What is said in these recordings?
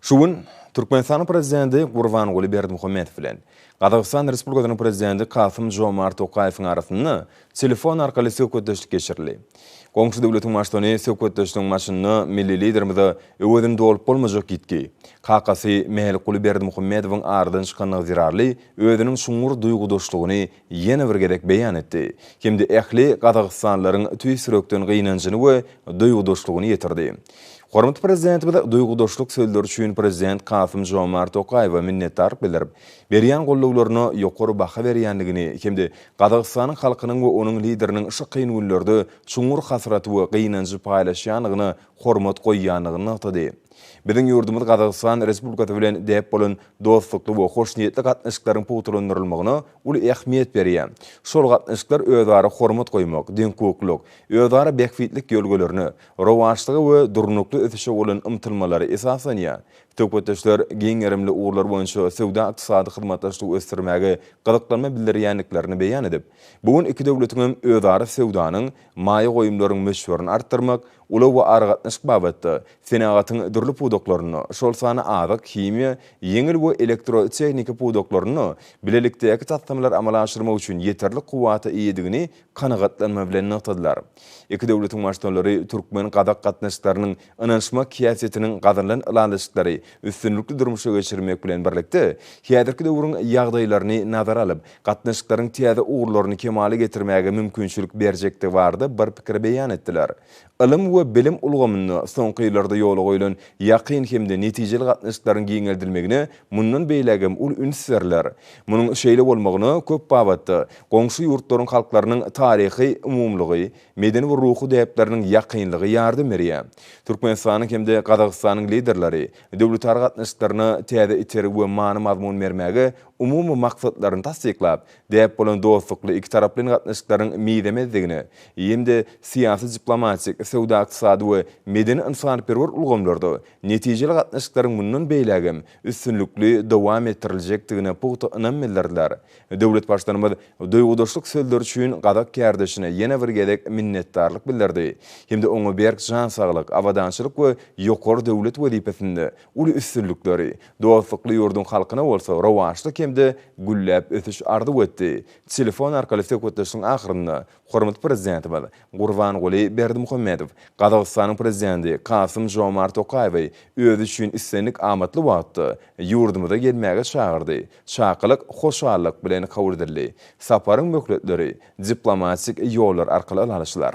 Şu gün Türkmenistanyň Prezidenti Gurbanguly Berdimuhamedow bilen Gazagystan Respublikasynyň Prezidenti Kasym-Žomart Tokaýewiň arasynda telefon arkaly söhbetdeşlik geçirildi. Goňşy döwletiň Baştutany söhbetdeşligiň başynda milli Liderimize öwezini dolup bolmajak ýitgi, kakasy Mälikguly Berdimuhamedowyň aradan çykandygy zerarly özüniň çuňňur duýgudaşlygyny ýene bir gezek beýan etdi hem-de ähli gazagystanlylaryň tüýs ýürekden gynanjyny we duýgudaşlygyny ýetirdi. Hormatly Prezidentimiz duýgudaşlyk sözleri üçin Prezident Kasym-Žomart Tokaýewe minnetdarlyk bildirip, berýän gollawlaryna ýokary baha berýändigini hem-de Gazagystanyň halkynyň we onuň Lideriniň şu kyn günlerde çuňňur hasraty we gynanjy paýlaşýandygyna hormat goýýandygyny nygtady. Biziň ýurdumyz Gazagystan Respublikasy bilen däp bolan dostlukly we hoşniýetli gatnaşyklaryň pugtalandyrylmagyna uly ähmiýet berýär. Şol gatnaşyklar özara hormat goýmak, deňhukuklylyk, özara bähbitlik ýörgülerine, rowaçlyga we durnukly ösüşe bolan ymtylmalara esaslanýar. Söhbetdeşler giň gerimli ugurlar boýunça söwda-ykdysady hyzmatdaşlygy ösdürmäge gyzyklanma bildirýändiklerini beýan edip, bu gün iki döwletiňem özara söwdanyň maýa goýumlaryň möçberini artdyrmak, ulag we aragatnaşyk babatda, senagatyň dürli pudaklarynda, şol sanda azyk, himiýa, ýeňil we elektrotehniki pudaklarynda bilelikdäki taslamalary amala aşyrmak üçin ýeterlik kuwwata eýedigini kanagatlanma bilen nygtadylar. Iki döwletiň Baştutanlary türkmen-gazak gatnaşyklarynyň ynanyşmak häsiýetiniň gazanylan ylalaşyklary üstünlikli durmuşa geçirmek bilen birlikde, häzirki döwrüň ýagdaýlaryny nazara alyp, gatnaşyklaryň täze ugurlaryny kemala getirmäge mümkinçilik berjekdigi barada bir pikir beýan etdiler. Ylym we bilim ulgamynda soňky ýyllarda ýola goýlan ýakyn hem-de netijeli gatnaşyklaryň giňeldilmegine mundan beýlägem uly üns berler. Munuň şeýle bolmagyna köp babatda goňşy ýurtlaryň halklarynyň taryhy umumylygy, medeni we ruhy däpleriniň ýakynlygy ýardam berýär. Türkmenistanyň hem-de Gazagystanyň Liderleri döwletara gatnaşyklaryna täze itergi we many-mazmun bermäge, umumy maksatlaryny tassyklap, däp bolan dostlukly ikitaraplaýyn gatnaşyklaryň mizemezdigine hem-de syýasy-diplomatik, söwda-ykdysady we medeni-ynsanperwer ulgamlarda netijeli gatnaşyklaryň mundan beýlägem üstünlikli dowam etdiriljekdigine pugta ynam bildirdiler Döwlet Baştutanymyz duýgudaşlyk sözleri üçin gazak kärdeşine ýene bir gezek minnetdarlyk bildirdi hem-de oňa berk jan saglyk, abadançylyk we ýokary döwlet wezipesinde uly üstünlikleri, dostlukly ýurduň halkyna bolsa rowaçlyk hem-de gülläp ösüş arzuw etdi. Telefon arkaly söhbetdeşligiň ahyrynda Hormatly Prezidentimiz Gurbanguly Berdimuhamedow Gazagystanyň Prezidenti Kasym-Žomart Tokaýewi özi üçin islendik amatly wagtda ýurdumyza gelmäge çagyrdy. Çakylyk hoşallyk bilen kabul edildi. Saparyň möhletleri diplomatik ýollar arkaly ala alşylar.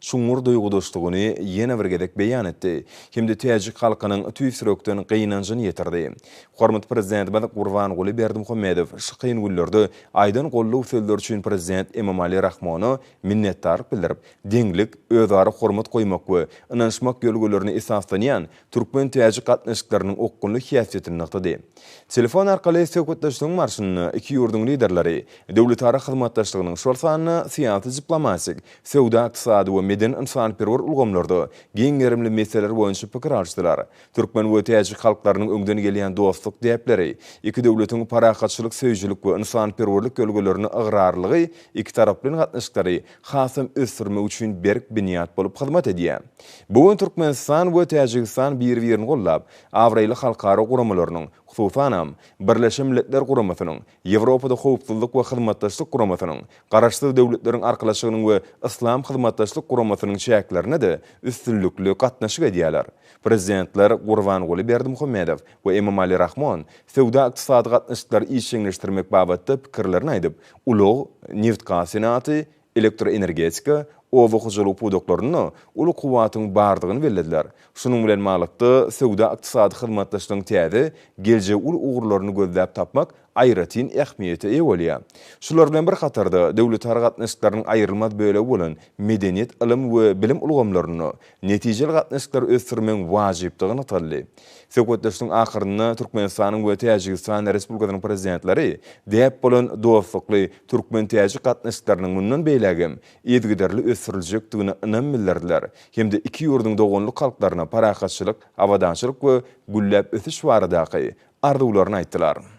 çuňňur duýgudaşdygyny ýene bir gezek beýan etdi hem-de täjik halkynyň tüýs ýürekden gynanjyny ýetirdi. Hormatly Prezidentimiz Gurbanguly Berdimuhamedow şu kyn günlerde aýdan goldaw sözleri üçin Prezident Emomali Rahmona minnetdarlyk bildirip, deňlik, özara hormat goýmak we ynanyşmak ýörelgelerine esaslanýan türkmen-täjik gatnaşyklarynyň okgunly häsiýetini nygtady. Telefon arkaly söhbetdeşligiň barşynda iki ýurduň Liderleri döwletara hyzmatdaşlygynyň, şol sanda syýasy-diplomatik, söwda-ykdysady we medeni-ynsanperwer ulgamlarda giň gerimli meseleler boýunça pikir alyşdylar. Türkmen we täjik halklarynyň öňden gelýän dostluk däpleri, iki döwletiň parahatçylyk söýüjilik we ynsanperwerlik ýörelgelerine ygrarlygy ikitaraplaýyn gatnaşyklary hasam ösdürmek üçin berk binýat bolup hyzmat edýär. Bu gün Türkmenistan we Täjigistan bir-birini goldap, abraýly halkara guramalarynyň, hususanam, Birleşen Milletler Guramasynyň, Ýewropada Howpsuzlyk we Hyzmatdaşlyk Guramasynyň, Garaşsyz Döwletleriň Arkalaşygynyň we Yslam Hyzmatdaşlyk Guramasynyň çäklerinde-de üstünlikli gatnaşyk edýärler. Prezidentler Gurbanguly Berdimuhamedow we Emomali Rahmon söwda-ykdysady gatnaşyklary işjeňleşdirmek babatda pikirlerini aýdyp, Ulag, nebit-gaz senagaty, elektroenergetika, oba hojalygy pudaklarynda uly kuwwatyň bardygyny bellediler. Şunuň bilen baglylykda, söwda-ykdysady hyzmatdaşlygyň täze, geljegi uly ugurlaryny gözläp tapmak aýratyn ähmiýete eýe bolýar. Şular bilen bir hatarda, döwletara gatnaşyklarynyň aýrylmaz bölegi bolan medeniýet, ylym we bilim ulgamlarynda netijeli gatnaşyklary ösdürmegiň wajypdygy nygtaldy. Söhbetdeşligiň ahyrynda Türkmenistanyň we Täjigistan Respublikasynyň Prezidentleri däp bolan dostlukly türkmen-täjik gatnaşyklarynyň mundan beýläk hem yzygiderli ösdüriljekdigine ynam bildirdiler hem-de iki ýurduň doganlyk halklaryna parahatçylyk, abadançylyk we gülläp ösüş baradaky arzuwlaryny aýtdylar.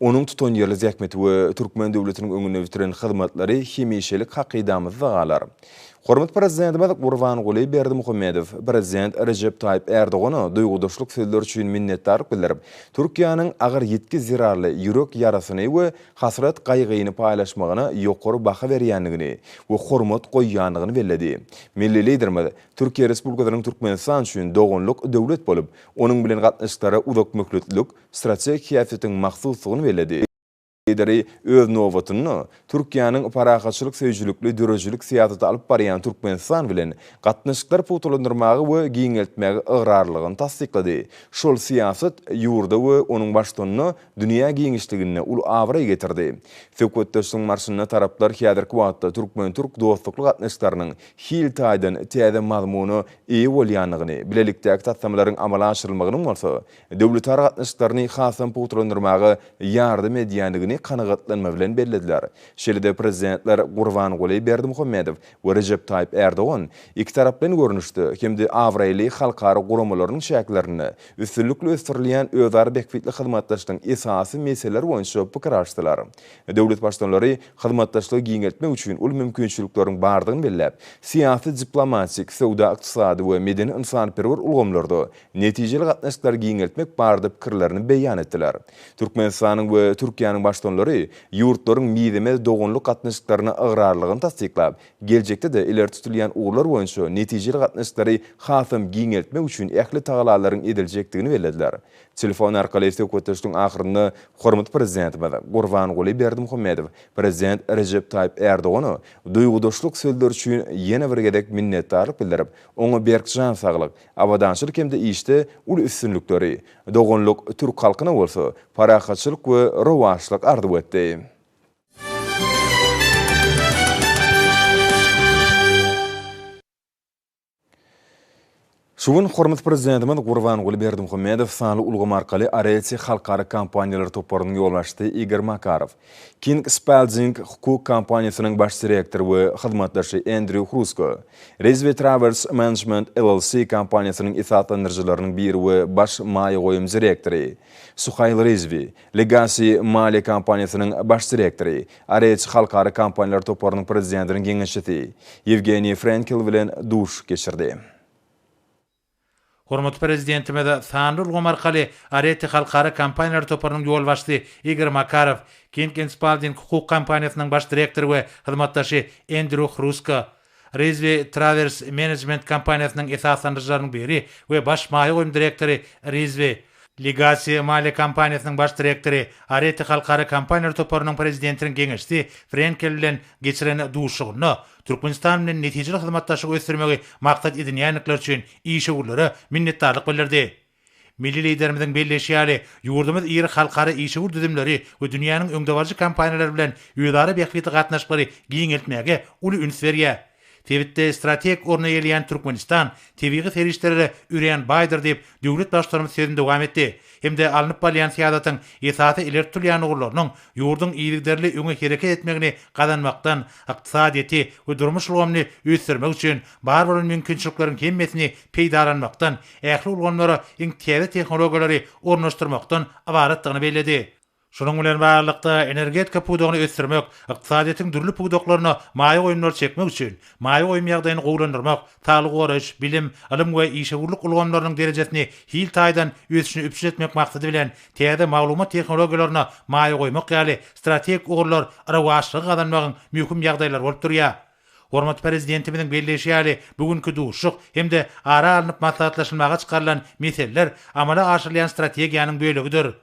Onuň tutanýerli zähmeti we türkmen döwletiniň öňünde bitiren hyzmatlary hemişelik hakydamyzda galar. Hormatly Prezidentimiz Gurbanguly Berdimuhamedow Prezident Rejep Taýyp Ärdogana duýgudaşlyk sözleri üçin minnetdarlyk bildirip, Türkiýäniň agyr ýitgi zerarly ýürek ýarasyny we hasrat-gaýgyny paýlaşmagyna ýokary baha berýändigini we hormat goýýandygyny belledi. Milli Liderimiz Türkiýe Respublikasynyň Türkmenistan üçin doganlyk döwlet bolup, onuň bilen gatnaşyklara uzakmöhletlilik strategik häsiýetiň mahsusdygyny belledi. Lideri, öz nobatynda, Türkiýäniň parahatçylyk söýüjilikli döredijilik syýasaty alyp barýan Türkmenistan bilen gatnaşyklary pugtalandyrmaga we giňeltmäge ygrarlylygyny tassyklady. Şol syýasat ýurda we onuň baştutanyna dünýä giňişliginde uly abraý getirdi. Söhbetdeşligiň barşynda taraplar häzirki wagtda türkmen-türk dostlukly gatnaşyklarynyň hil taýdan täze mazmuna eýe bolýandygyny, bilelikdäki taslamalaryň amala aşyrylmagynyň bolsa döwletara gatnaşyklaryny hasam pugtalandyrmaga ýardam edýändigini kanagatlanma bilen bellediler. Şeýle-de Prezidentler Gurbanguly Berdimuhamedow we Rejep Taýyp Ärdogan ikitaraplaýyn görnüşde hem-de abraýly halkara guramalarynyň çäklerinde üstünlikli ösdürilýän özara bähbitli hyzmatdaşlygyň esasy meseleleri boýunça pikir alyşdylar. Döwlet Baştutanlary hyzmatdaşlygy giňeltmek üçin uly mümkinçilikleriň bardygyny belläp, syýasy-diplomatik, söwda-ykdysady we medeni-ynsanperwer ulgamlarda netijeli gatnaşyklary giňeltmek barada pikirlerini beýan etdiler. Türkmenistanyň we Türkiýäniň Baştutanlary ýurtlaryň mizemez doganlyk gatnaşyklaryna ygrarlylygyny tassyklap, geljekde-de ileri tutulýan ugurlar boýunça netijeli gatnaşyklary hasam giňeltmek üçin ähli tagalalaryň ediljekdigini bellediler. Telefon arkaly söhbetdeşligiň ahyrynda hormatly Prezidentimiz Gurbanguly Berdimuhamedow Prezident Rejep Taýyp Ärdogana duýgudaşlyk sözleri üçin ýene bir gezek minnetdarlyk bildirip, oňa berk jan saglyk, Abadançylyk hem-de işde uly üstünlikleri, doganlyk türk halkyna bolsa parahatçylyk we rowaçlyk arzuw etdi. Şu gün hormatly Prezidentimiz Gurbanguly Berdimuhamedow sanly ulgam arkaly Areti halkara kompaniýalar toparynyň ýolbaşçysy Igor Makarow, King Spalding hukuk kompaniýasynyň baş direktory we hyzmatdaşy Endrýu Hrusko, Rizvi Trawers Management LLC kompaniýasynyň esaslandyryjylarynyň biri we baş maýa goýum direktory, Suhaýl Rizvi, Legacy maliýe kompaniýasynyň baş direktory, Areç halkara kompaniýalar toparynyň prezidentiniň geňeşçisi Ýewgeniý Frenkel bilen duş geçirdi. Hormatly Prezidentimiz sanly ulgam arkaly Arete halkara kompaniýalar toparynyň ýolbaşçysy Igor Makarow, King and Spalding hukuk kompaniýasynyň baş direktory we hyzmatdaşy Endrýu Hrusko, Rizvi Trawers Menejment kompaniýasynyň esaslandyryjylarynyň biri we baş maýa goýum direktory Rizvi, Legacy maliýe kompaniýasynyň baş direktory, Arete halkara kompaniýalar toparynyň prezidentiniň geňeşçisi Frenkel bilen geçiren duşuşygynda Türkmenistan bilen netijeli hyzmatdaşlygy ösdürmegi maksat edinýändikleri üçin işewürlere minnetdarlyk bildirdi. Milli Liderimiziň belleýşi ýaly, ýurdumyz iri halkara işewür düzümleri we dünýäniň öňdebaryjy kompaniýalary bilen özara bähbitli gatnaşyklary giňeltmäge uly üns berýär. Sebitde strategik orun eýeleýän Türkmenistan tebigy serişdelere örän baýdyr diýip, döwlet Baştutanymyz sözüni dowam etdi hem-de alnyp barylýan syýasatyň esasy ileri tutulýan ugurlarynyň ýurduň yzygiderli öňe hereket etmegini gazanmakdan ykdysadyýeti we durmuş ulgamyny ösdürmek üçin bar bolan mümkinçilikleriň hemmesini peýdalanmakdan, ähli ulgamlara iň täze tehnologiýalary ornaşdyrmakdan ybaratdygyny belledi. Şunuň bilen baglylykda, energetika pudagyny ösdürmek, ykdysadyýetiň dürli pudaklaryna maýa goýumlary çekmek üçin maýa goýum ýagdaýyny gowulandyrmak, saglygy goraýyş, bilim, ylym we işewürlik ulgamlarynyň derejesini hil taýdan ösüşini üpjün etmek maksady bilen täze maglumat tehnologiýalaryna maýa goýmak ýaly strategik ugurlar rowaçlygy gazanmagyň möhüm ýagdaýlary bolup durýar. Hormatly Prezidentimiziň belleýşi ýaly, bu günki duşuşyk hem-de ara alnyp maslahatlaşylmaga çykarylan meseleler amala aşyrylýan strategiýanyň bölegidir.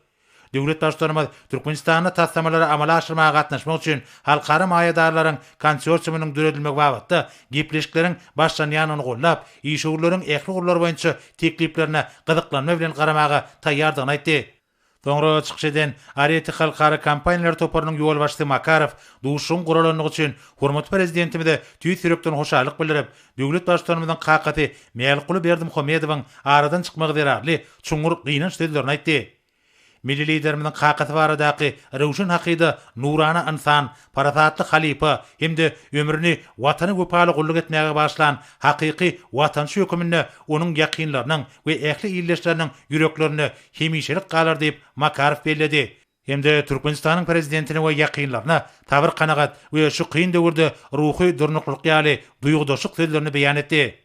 Döwlet Baştutanymyz Türkmenistanda taslamalary amala aşyrmaga gatnaşmak üçin halkara maýadarlaryň konsorsiumynyň döredilmegi babatda gepleşikleriň başlanýandygyny goldap, işewürleriň ähli ugurlar boýunça tekliplerine gyzyklanma bilen garamaga taýýardygyny aýtdy. Soňra çykyş eden Areti halkara kompaniýalar toparynyň ýolbaşçysy Makarow duşuşygyň guralandygy üçin hormatly Prezidentimize tüýs ýürekden hoşallyk bildirip, döwlet Baştutanymyzyň kakasy Mälikguly Berdimuhamedowyň aradan çykmagy zerarly çuňňur gynanç sözlerini aýtdy. Milli Liderimiziň kakasy baradaky röwşen hakyda nurana ynsan, parasatly halypa hem-de ömrüni Watana wepaly gulluk etmäge bagyşlan hakyky watançy höküminde onuň ýakynlarynyň we ähli ildeşleriniň ýüreklerinde hemişelik galar diýip, Makarow belledi hem-de Türkmenistanyň Prezidentine we ýakynlaryna sabyr-kanagat we şu kyn döwürde ruhy durnuklyk ýaly duýgudaşlyk sözlerini beýan etdi.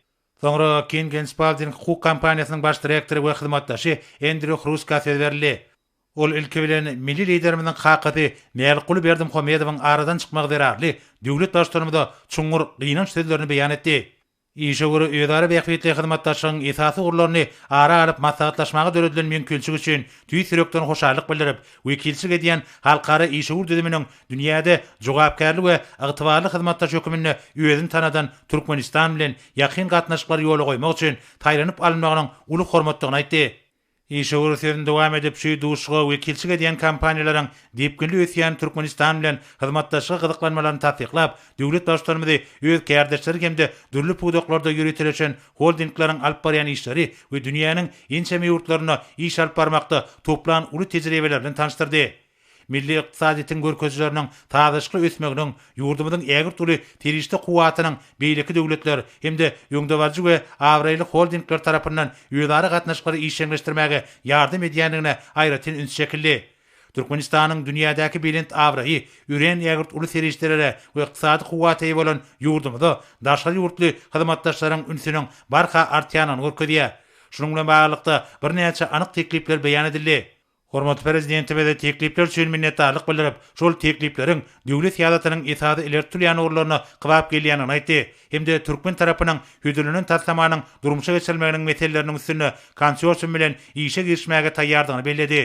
Soňra King Ginspalding hukuk kompaniýasynyň baş direktory we hyzmatdaşy Endrýu Hruska söz berildi. Ol ilki bilen milli Liderimiziň kakasy Mälikguly Berdimuhamedowyň aradan çykmagy zerarly döwlet Baştutanymyza çuňňur gynanç sözlerini beýan etdi. Işe görä özara bähbitli hyzmatdaşlygyň esasy ugurlaryny ara alyp maslahatlaşmaga döredilen mümkinçilik üçin tüýs ýürekden hoşallyk bildirip, wekilçilik edýän halkara işewür düzüminiň dünýäde jogapkärli we ygtybarly hyzmatdaş höküminde özüni tanadan Türkmenistan bilen ýakyn gatnaşyklary ýola goýmak üçin saýlanyp alynmagynyň uly hormatdygyny aýtdy. Işewür sözüni dowam edip, şu duşuşyga wekilçilik edýän kompaniýalaryň depginli ösýän Türkmenistan bilen hyzmatdaşlyga gyzyklanmalaryny tassyklap, döwlet Baştutanymyzy öz kärdeşleri hem-de dürli pudaklarda ýöriteleşen holdingleriň alyp barýan işleri we dünýäniň ençeme ýurtlarynda iş alyp barmakda toplan uly tejribeleri bilen tanyşdyrdy. Milli ykdysadyýetiň görkezileriniň sazlaşykly ösmeginiň ýurdumyzyň ägirt uly serişde kuwwatynyň beýleki döwletler hem-de öňdebaryjy we abraýly holdingler tarapyndan özara gatnaşyklary işjeňleşdirmäge ýardam edýändigine aýratyn üns çekildi. Türkmenistanyň dünýädäki belent abraýy örän ägirt uly serişdelere we ykdysady kuwwata eýe bolan ýurdumyza daşary ýurtly hyzmatdaşlaryň ünsüniň barha artýandygyny görkezýär. Şunuň bilen baglylykda, birnäçe anyk teklipler beýan edildi. Hormatly Prezidentimize teklipler üçin minnetdarlyk bildirip, şol teklipleriň döwlet syýasatynyň esasy ileri tutulýan ugurlaryna kybap gelýändigini aýtdy hem-de türkmen tarapynyň hödürlenen taslamanyň durmuşa geçirilmeginiň meseleleriniň üstünde konsorsium bilen işe girişmäge taýýardygyny belledi.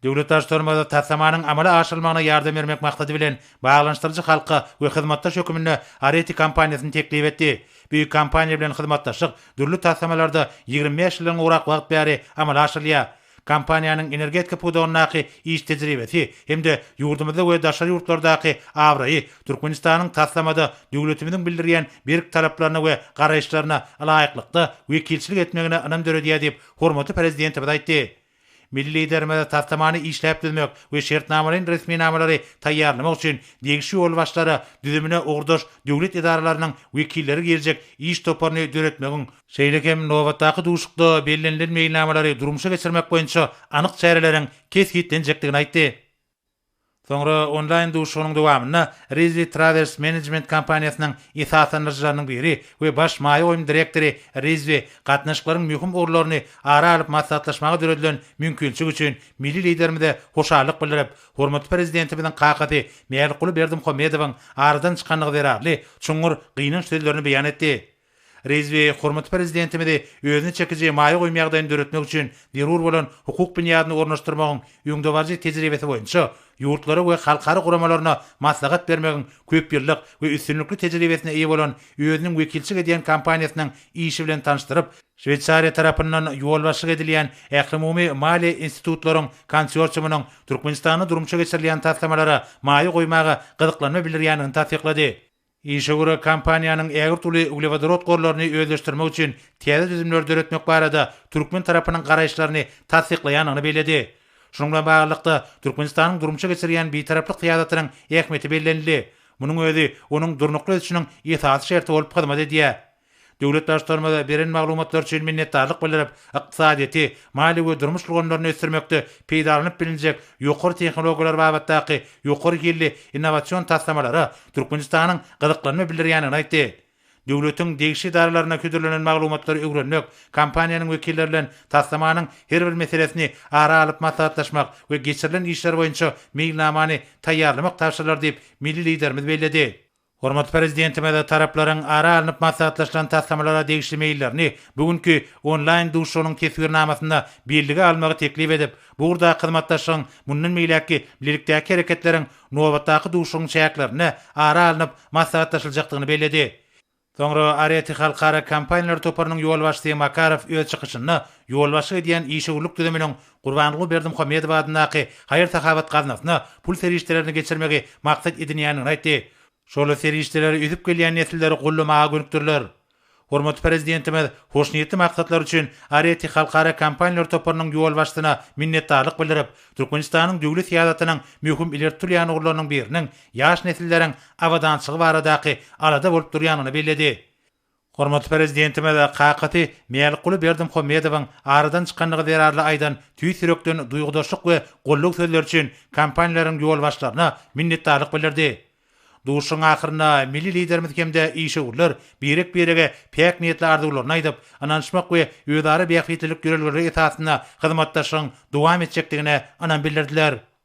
Döwlet Baştutanymyz taslamanyň amala aşyrylmagyna ýardam bermek maksady bilen, baglanyşdyryjy halka we hyzmatdaş höküminde Areti kompaniýasyny teklip etdi. Bu kompaniýa bilen hyzmatdaşlyk dürli taslamalarda ýigrimi bäş ýyldan gowrak wagt bäri amala aşyrylýar. Kompaniýanyň energetika pudagyndaky iş tejribesi hem-de ýurdumyzda we daşary ýurtlardaky abraýy Türkmenistanyň taslamada döwletimiziň bildirýän berk talaplaryna we garaýyşlaryna ylaýyklykda wekilçilik etmegine ynam döredýär diýip, hormatly Prezidentimiz aýtdy. Milli Liderimiz taslamany işläp düzmek we şertnamalaýyn resminamalary taýýarlamak üçin degişli ýolbaşçylara düzümine ugurdaş döwlet edaralarynyň wekilleri girijek iş toparyny döretmegiň Şeýle hem nobatdaky duşuşykda bellenilen meýilnamalary durmuşa geçirmek boýunça anyk çäreleriň kesgitlenjekdigini aýtdy. Soňra onlaýn duşuşygynyň dowamynda Rizli Trawers Menejment kompaniýasynyň esaslandyryjylarynyň biri we baş maýa goýum direktory Rizli gatnaşyklaryň möhüm ugurlaryny ara alyp maslahatlaşmaga döredilen mümkinçilik üçin milli Liderimize hoşallyk bildirip, hormatly Prezidentimiziň kakasy Mälikguly Berdimuhamedowyň aradan çykandygy zerarly çuňňur gynanç sözlerini beýan etdi. Rizvi hormatly Prezidentimizi özüne çekiji maýa goýum ýagdaýyny döretmek üçin zerur bolan hukuk binýadyny ornaşdyrmagyň öňdebaryjy tejribesi boýunça ýurtlara we halkara guramalaryna maslahat bermegiň köpýyllyk we üstünlikli tejribesine eýe bolan özüniň wekilçilik edýän kompaniýasynyň işi bilen tanyşdyryp, Şweýsariýa tarapyndan ýolbaşçylyk edilýän Ählumumy maliýe institutlaryň konsorsiumynyň Türkmenistanda durmuşa geçirilýän taslamalara maýa goýmaga gyzyklanma bildirýändigini tassyklady. Işe görä kompaniýanyň ägirt uly uglewodorod gorlaryny özleşdirmek üçin täze düzümleri döretmek barada türkmen tarapynyň garaýyşlaryny tassyklaýandygyny belledi. Şunuň bilen baglylykda, Türkmenistanyň durmuşa geçirýän Bitaraplyk syýasatynyň ähmiýeti bellenildi. Munuň özi onuň durnukly ösüşiniň esasy şerti bolup hyzmat edýär. Döwlet Baştutanymyza beren maglumatlary üçin minnetdarlyk bildirip, ykdysadyýeti, maliýe we durmuş ulgamlaryny ösdürmekde peýdalanyp bilinjek ýokary tehnologiýalar babatdaky ýokary hilli innowasion taslamalara Türkmenistanyň gyzyklanma bildirýändigini aýtdy. Döwletiň degişli edaralaryna hödürlenen maglumatlary öwrenmek, kompaniýanyň wekilleri bilen taslamanyň her bir meselesini ara alyp maslahatlaşmak we geçirilen işler boýunça meýilnamany taýýarlamak tabşyrylar diýip, milli Liderimiz belledi. Hormatly Prezidentimiz taraplaryň ara alnyp maslahatlaşylan taslamalara degişli meýillerini bu günki onlaýn duşuşygynyň teswirnamasynda bellige almagy teklip edip, bu ugurdaky hyzmatdaşlygyň mundan beýläkki bilelikdäki hereketleriň nobatdaky duşuşygyň çäklerinde ara alnyp maslahatlaşyljakdygyny belledi. Soňra Areti halkara kompaniýalar toparynyň ýolbaşçysy Makarow öz çykyşynda ýolbaşçylyk edýän işewürlik düzüminiň Gurbanguly Berdimuhamedow adyndaky haýyr-sahawat gaznasyna pul serişdelerini geçirmegi maksat edinýändigini aýtdy. Şol serişdeleri ösüp gelýän nesilleri goldamaga gönükdiriler. Hormatly Prezidentimiz hoşniýetli maksatlar üçin ARETI halkara kompaniýalar toparynyň ýolbaşçysyna minnetdarlyk bildirip, Türkmenistanyň döwlet syýasatynyň möhüm ileri tutulýan ugurlarynyň biriniň ýaş nesilleriň abadançylygy baradaky alada bolup durýandygyny belledi. Hormatly Prezidentimize kakasy Mälikguly Berdimuhamedowyň aradan çykandygy zerarly aýdan tüýs ýürekden duýgudaşlyk we goldaw sözleri üçin kompaniýalaryň ýolbaşçylaryna minnetdarlyk bildirdi. Duşuşygyň ahyrynda milli Liderimiz hem-de işewürler birek-birege päk niýetli arzuwlaryny aýdyp, ynanyşmak we özara bähbitlilik ýörelgeleri esasynda hyzmatdaşlygyň dowam etjekdigine ynam bildirdiler.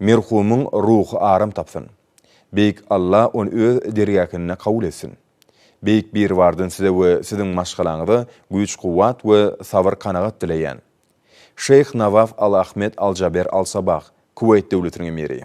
Merhumyň ruhy aram tapsyn. Beýik Alla ony öz dergähinde kabul etsin. Beýik Biribardan size we siziň maşgalaňyza güýç-kuwwat we sabyr-kanagat dileýän. Şeýh Nawaf Al Ahmed Al Jaber Al Sabah, Kuweýt döwletiniň emiri.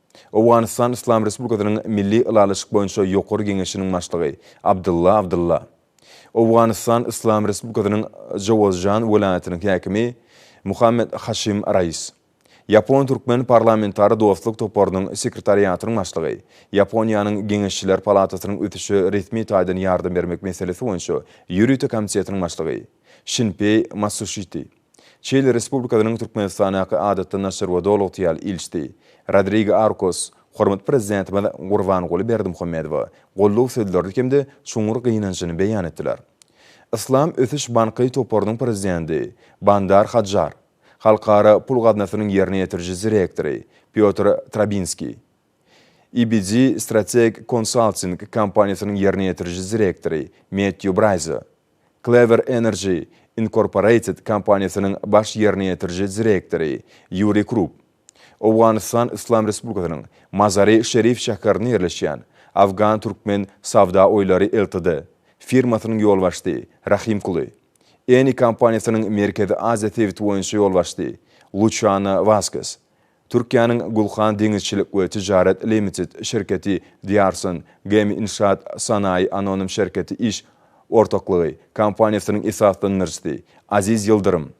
Owganystan Yslam Respublikasynyň Milli ylalaşyk boýunça ýokary geňeşiniň başlygy Abdylla Abdylla, Owganystan Yslam Respublikasynyň Jowazjan welaýatynyň häkimi Muhammed Haşim Rais, Ýapon-türkmen parlamentara dostluk toparynyň sekretariatynyň başlygy, Ýaponiýanyň Geňeşçiler palatasynyň ösüşe resmi taýdan ýardam bermek meselesi boýunça ýörite komitetiniň başlygy Şinpeý Matsushiti, Çili Respublikasynyň Türkmenistandaky Adatdan daşary we Doly-ygtyýarly ilçisi Rodrigo Arkos hormatly Prezidentimiz Gurbanguly Berdimuhamedowa goldaw sözlerini hem-de çuňňur gynanjyny beýan etdiler. Yslam ösüş banky toparynyň prezidenti Bandar Hadjar, Halkara pul gaznasynyň ýerine ýetiriji direktory Pýotr Trabinskiý, IBG Strategic Consulting kompaniýasynyň ýerine ýetiriji direktory Mettýu Braýza, Clever Energy Incorporated kompaniýasynyň baş ýerine ýetiriji direktory Ýuri Krup, Owganystan Yslam Respublikasynyň Mazari Şerif şäherinde ýerleşýän Afgan-Türkmen Savda Oýlary Ltd. firmasynyň ýolbaşçy Rahim Kuly, Eni kompaniýasynyň Merkezi Aziýa sebiti boýunça ýolbaşçy Luçiano Waskes, Türkiýäniň Gulhan deňizçilik we tijaret limited şirketi, Diarson, Gemi Inşaat Sanayi anonim şirketi iş ortaklygy kompaniýasynyň esaslandyryjysy, Aziz Ýyldyrym,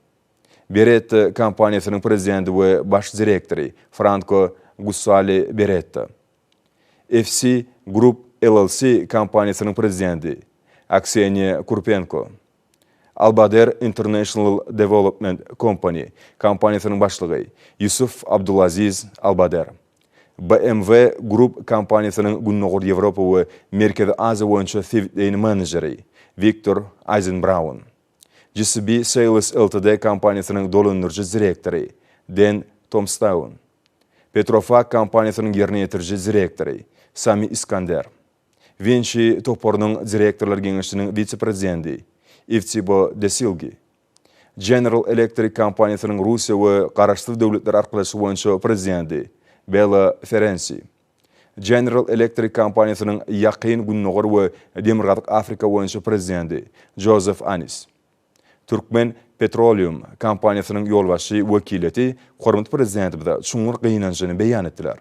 Beretta kompaniýasynyň prezidenti we baş direktory, Franko Gussali Beretta, FC Group LLC kompaniýasynyň prezidenti, Akseniýa Kurpenko. Albader International Development Company kompaniýasynyň başlygy Ýusuf Abdulaziz Albader, BMW Group kompaniýasynyň Gündogar Ýewropa we Merkezi Aziýa boýunça sebitleýin menejeri Wiktor Aýzenbraun, GCB Sales Ltd kompaniýasynyň dolandyryjy direktory Den Tomstaun, Petrofac kompaniýasynyň ýerine ýetiriji direktory Sami Iskander, Winçi toparynyň direktorlar geňeşiniň wise-prezidendi Iftibo Desilgi, General Electric kompaniýasynyň Russiýa we Garaşsyz Döwletler Arkalaşygy boýunça prezidendi Bela Ferensi, General Electric kompaniýasynyň Ýakyn Gündogar we Demirgazyk Afrika boýunça prezidendi Jozef Anis, Türkmen Petroleum kompaniýasynyň ýolbaşçy wekiliýeti hormatly Prezidentimize çuňňur gynanjyny beýan etdiler.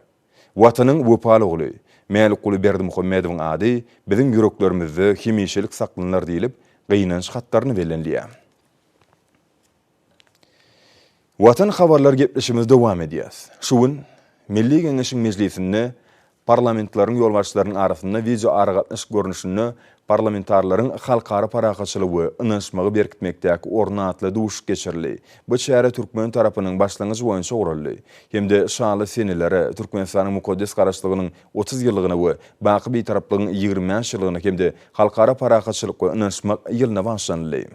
Watanyň wepaly ogly Mälikguly Berdimuhamedowyň ady biziň ýüreklerimizde hemişelik saklanylar diýlip, gynanç hatlarynda bellenilýär. Watan habarlar gepleşigimizi dowam edýäs. Şu gün Milli Geňeşiň mejlisinde parlamentlaryň ýolbaşçylarynyň arasynda wideoaragatnaşyk görnüşinde Parlamentarileriň Halkara parahatçylygy we ynanyşmagy berkitmekdäki orny atly duşuşyk geçirildi. Bu çäre türkmen tarapynyň başlangyjy boýunça guraldy hem-de şaly senelere, Türkmenistanyň mukaddes Garaşsyzlygynyň otuz ýyllygyna we Baky Bitaraplygyň ýigrimi bäş ýyllygyna hem-de Halkara parahatçylyk we ynanyşmak ýylyna bagyşlanyldy.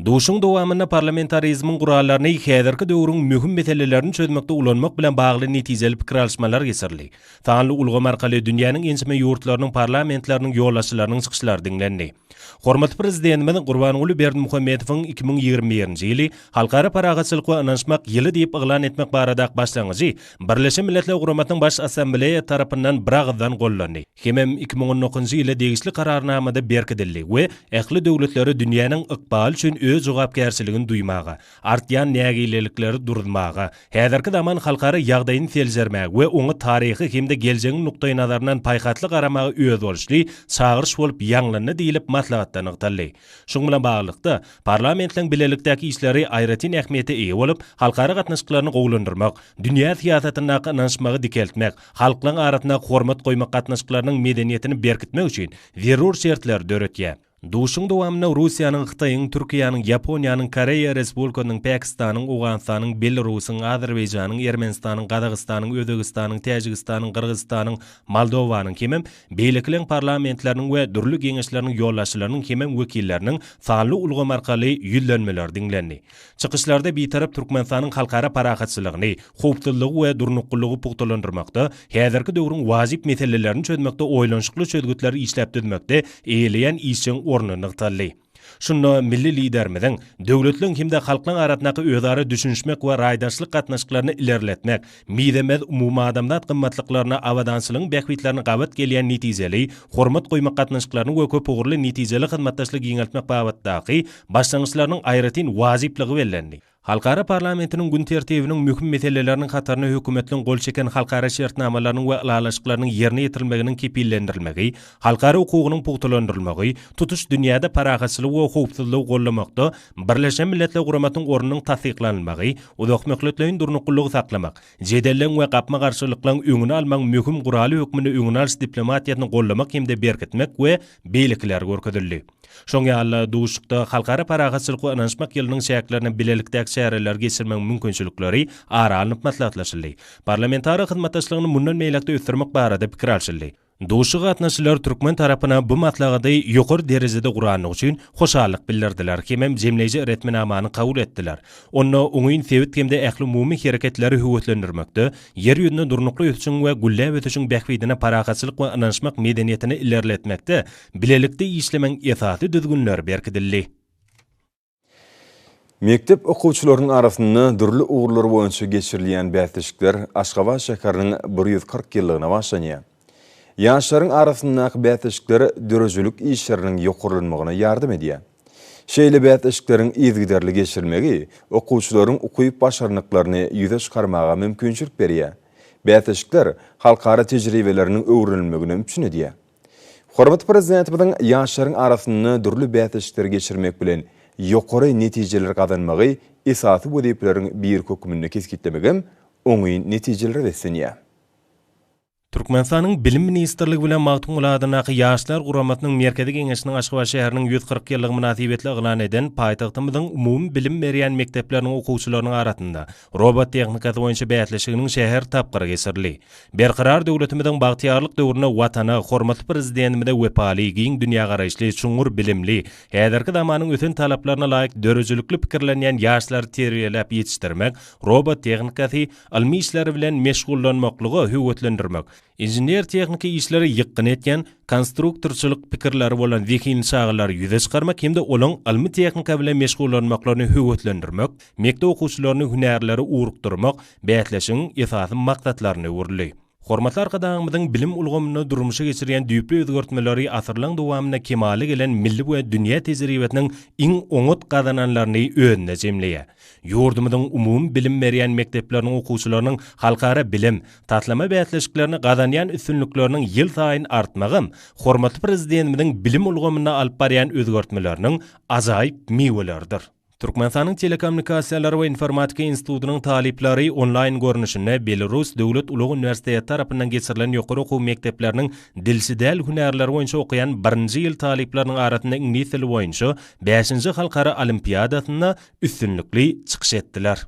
Duşuşygyň dowamynda parlamentarizmiň gurallaryny häzirki döwrüň möhüm meselelerini çözmekde ulanmak bilen bagly netijeli pikir alyşmalar geçirildi. Sanly ulgam arkaly dünýäniň ençeme ýurtlarynyň parlamentleriniň ýolbaşçylarynyň çykyşlary diňlendi. Hormatly Prezidentimiz Gurbanguly Berdimuhamedowyň iki müň ýigrimi birinji ýyly Halkara parahatçylyk we ynanyşmak ýyly diýip yglan etmek barada başlangyjy Birleşen Milletler Guramasynyň Baş Assambleýa tarapyndan biragyzdan gollandy hemem iki müň on dokuzynjy ýylda degişli Kararnamada berkidildi we ähli döwletleri dünýäniň ykbaly üçin öz jogapkärçiligini duýmaga, artýan nägilelikleri duruzmaga, häzirki zaman halkara ýagdaýyny seljermäge we oňa taryhy hem-de geljegiň nukdaýnazaryndan paýhasly garamaga özboluşly çagyryş bolup ýaňlandy diýlip maslahatda nygtaldy. Şuň bilen baglylykda, Parlamentiň bilelikdäki işleri aýratyn ähmiýete eýe bolup, halkara gatnaşyklaryny gowulandyrmak, dünýä syýasatyndaky ynanyşmagy dikeltmek, halklaryň arasynda hormat goýmak gatnaşyklarynyň medeniýetini berkitmek üçin zerur şertleri döretýär. Duşuşygyň dowamynda Russiýanyň, Hytaýyň, Türkiýäniň, Ýaponiýanyň, Koreýa Respublikasynyň, Pakistanyň, Owganystanyň, Belarusyň, Azerbaýjanyň, Ermenistanyň, Gazagystanyň, Özbegistanyň, Täjigistanyň, Gyrgyzystanyň, Moldowanyň hemem Beýlekileň parlamentleriniň we dürli geňeşleriniň ýolbaşçylarynyň hemem wekilleriniň sanly ulgam arkaly ýüzlenmeleri diňlendi. Çykyşlarda Bitarap Türkmenistanyň halkara parahatçylygyny, howpsuzlygy we durnuklylygy pugtalandyrmakda, häzirki döwrüň wajyp meselelerini çözmekde oýlanyşykly çözgütleri işläp düzmekde eýeleýän işjeň orny nygtaldy. Şunda milli Liderimiziň döwletleriň hem-de halklaryň arasyndaky özara düşünişmek we raýdaşlyk gatnaşyklaryny ilerletmek, mizemez umumadamzat gymmatlyklaryna, abadançylygyň bähbitlerine gabat gelýän netijeli, hormat goýmak gatnaşyklaryny we köpugurly netijeli hyzmatdaşlygy giňeltmek babatdaky başlangyçlarynyň aýratyn wajyplygy bellendi. Halkara parlamentiniň gün tertibiniň möhüm meseleleriniň hataryna hökümetliň gol çeken halkara şertnamalarynyň we ylalaşyklarynyň ýerine ýetirilmeginiň kepillendirilmegi, halkara hukugynyň pugtalandyrylmagy, tutuş dünýäde parahatçylygy we howpsuzlygy gollamakda Birleşen Milletler Guramasynyň ornunyň tassyklanylmagy, uzakmöhletleýin durnuklylygy saklamak, jedelleň we gapma-garşylyklaryň öňüni almagyň möhüm guraly hökmünde öňüni alyş diplomatiýasyny gollamak hem-de berkitmek we beýlekiler görkezildi. Şoň ýaly-da, duşuşykda Halkara parahatçylyk we ynanyşmak ýylynyň çäklerinde bilelikdäki çäreleri geçirmegiň mümkinçilikleri ara alnyp maslahatlaşyldy. Parlamentara hyzmatdaşlygyny mundan beýläk-de ösdürmek barada pikir alşyldy. Duşuşyga gatnaşyjylar türkmen tarapyna bu maslahaty ýokary derejede gurandygy üçin hoşallyk bildirdiler hemem jemleýji resminamany kabul etdiler. Onda oňyn sebit hem-de ählumumy hereketleri höweslendirmekde, Ýer ýüzünde durnukly ösüşiň we gülläp ösüşiň bähbidine parahatçylyk we ynanyşmak medeniýetini ilerletmekde Bilelikde işlemegiň esasy düzgünleri berkidildi. Mekdep okuwçylarynyň arasynda dürli ugurlar boýunça geçirilýän bäsleşikler Aşgabat şäheriniň bir ýüz kyrk ýyllygyna bagşlanýar. Ýaşlaryň arasyndaky bäsleşikler döredijilik işleriniň ýokarlanmagyna ýardam edýär. Şeýle bäsleşikleriň yzygiderli geçirilmegi okuwçylaryň ukyp-başarnyklaryny ýüze çykarmaga mümkinçilik berýär. Bäsleşikler halkara tejribeleriniň öwrenilmegini üpjün edýär. Hormatly Prezidentimiziň ýaşlaryň arasynda dürli bäsleşikleri geçirmek bilen, ýokary netijeleri gazanmagy esasy wezipeleriň biri hökmünde kesgitlemegem oňyn netijelere beslenýär. Türkmenistanyň Bilim ministrligi bilen Magtymguly adyndaky Ýaşlar guramasynyň Merkezi Geňeşiniň Aşgabat şäheriniň ýüz kyrk ýyllygy mynasybetli yglan eden paýtagtymyzyň umumy bilim berýän mekdepleriniň okuwçylarynyň arasynda robot tehnikasy boýunça bäsleşiginiň şäher tapgyry geçirildi. Berkarar döwletimiziň bagtyýarlyk döwründe Watana, hormatly Prezidentimize wepaly, giň dünýägaraýyşly, çuňňur bilimli, häzirki zamanyň ösen talaplaryna laýyk döredijilikli pikirlenýän ýaşlary terbiýeläp ýetişdirmek, robot tehnikasy, ylmy işleri bilen meşgullanmaklyga höweslendirmek, inžener-tehniki işleri ýykgyn etýän, konstruktorçylyk pikirleri bolan zehinli çagalary ýüze çykarmak hem-de olaryň ylmy-tehnika bilen meşgullanmaklaryny höweslendirmek, Mekdep okuwçylaryny hünärlere ugrukdyrmak bäsleşigiň esasy maksatlaryna öwrüldi. Hormatly Arkadagymyzyň bilim ulgamynda durmuşa geçirýän düýpli özgertmeleri asyrlaň dowamynda kemala gelen milli we dünýä tejribesiniň iň oňat gazananlaryny özünde jemleýär. Ýurdumyzyň umumy bilim berýän mekdepleriniň okuwçylarynyň halkara bilim, taslama bäsleşiklerinde gazanýan üstünlikleriniň ýylsaýyn artmagam hormatly Prezidentimiziň bilim ulgamynda alyp barýan özgertmeleriniň ajaýyp miweleridir. Türkmenistanyň Telekommunikasiýalar we informatika institutynyň talyplary onlaýn görnüşinde Belarus döwlet ulag uniwersiteti tarapyndan geçirilen ýokary okuw mekdepleriniň dilçi däl hünärleri boýunça okaýan birinji ýyl talyplarynyň arasynda iňlis dili boýunça bäşinji halkara olimpiadasynda üstünlikli çykyş etdiler.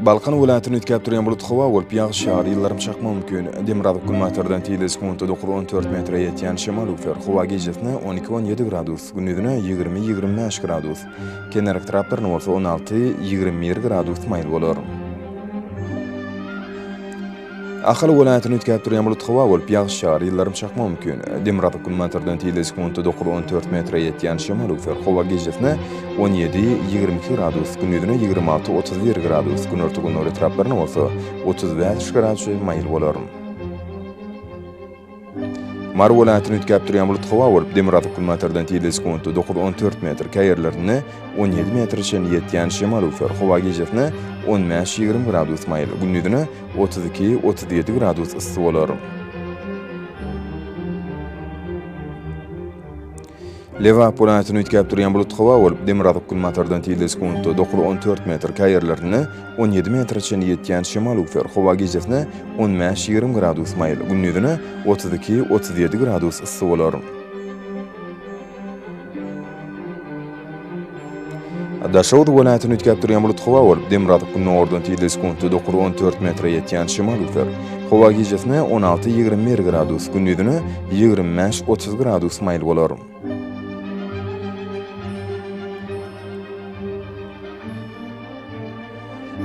Balkan welaýatyny üýtgäp durýan bulut howa bolup, ýagyş ýagar, ýyldyrym çakmagy mümkin. Demirgazyk günbatardan tizligi sekuntda dokuz, on dört metre ýetýän şemal üflär. Howa gijesine on iki, on ýedi gradus, gündizine ýigrimi, ýigrimi bäş gradus, kenar etraplarynda bolsa on alty, ýigrimi bir gradus maýyl bolar. Ahal welaýatyny üýtgäp durýan bulut howa bolup, ýagyş ýagar, ýyldyrym çakmagy mümkin. Demirgazyk günbatardan tizde sekuntda dokuz, on dört metre ýetýän şemal öwser. Howa gijesi-ne on ýedi, ýigrimi iki gradus, gündizine ýigrimi alty, otuz bir gradus, günorta-gündogar etraplaryna bolsa otuz bäş gradus çenli maýyl bolar. Mary welaýatyny üýtgäp durýan bulut howa bolup, demirgazyk günbatardan tizligi sekuntda dokuz, on dört metr, käý ýerlerinde on ýedi metre çenli ýetýän şemal üflär. Howa gijesine on bäş, ýigrimi gradus maýyl, gündizine otuz iki, otuz ýedi gradus yssy bolar. Lebap welaýatyny üýtgäp durýan bulut howa bolup, demirgazyk günbatardan tizde sekuntda dokuz on dört metr, käý ýerlerinde on ýedi metre çenli ýetýän şemal üwser, howa gijesine on bäş ýigrimi gradus maýyl, gündizine otuz iki otuz ýedi gradus yssy bolar. Daşoguz welaýatyny üýtgäp durýan bulut howa bolup, demirgazyk gündogardan tizligi sekuntda dokuz on dört metre ýetýän şemal üzer. Howa gijesine on alty ýigrimi bir gradus, gündizine ýigrimi bäş otuz gradus maýyl bolar.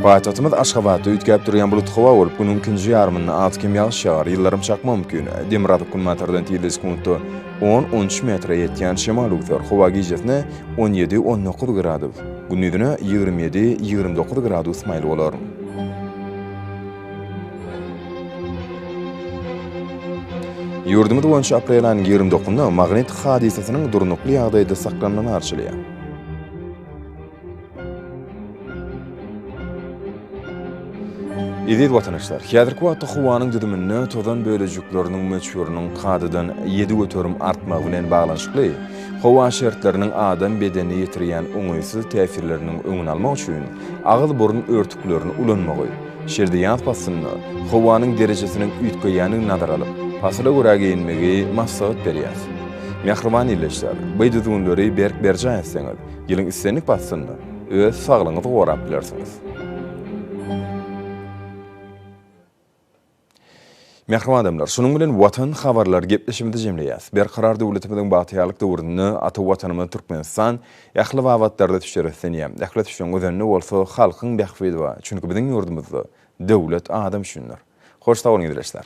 Paýtagtymyz Aşgabatda üýtgäp durýan bulut howa bolup, günüň ikinji ýarymynda az-kem ýagyş ýagar, ýyldyrym çakma mümkin. Demirgazyk günbatardan tizligi sekuntda on, on üç metre ýetýän şemal öwser. Howa gijesine on ýedi, on dokuz gradus, gündizine ýigrimi ýedi, ýigrimi dokuz gradus maýyl bolar. Ýurdumyz boýunça aprel aýynyň ýigrimi dokuzynda magnit hadysasynyň durnukly ýagdaýda saklanmany arzuwlaýar. Eziz watanaşlar, häzirki wagtda howanyň düzüminde tozan bölejikleriniň möçberiniň kadadan ýedi göterim artmagy bilen baglanyşykly, howa şertleriniň adam bedenine ýetirýän oňaýsyz täsirleriniň öňüni almak üçin agyz-burun örtüklerini ulanmagy, şeýle-de ýaz paslynda howanyň derejesiniň üýtgeýändigini nazara alyp, pasyla görä geýinmegi maslahat berýäris. Mähriban ildeşler, bu düzgünleri berk berjaý etseňiz, Ýylyň islendik paslynda öz saglygyňyzy gorap bilersiňiz. Mähriban adamlar, şunuň bilen Watan habarlary gepleşigimizi jemleýäs. Berkarar döwletimiziň bagtyýarlyk döwründe ata Watanymyz Türkmenistan ähli babatlarda düşer islenýär. Ähli düşeň özende bolsa halkyň bähbidi bar. Çünki biziň ýurdumyzda döwlet adam üçindir. Hoş sag boluň ildeşler.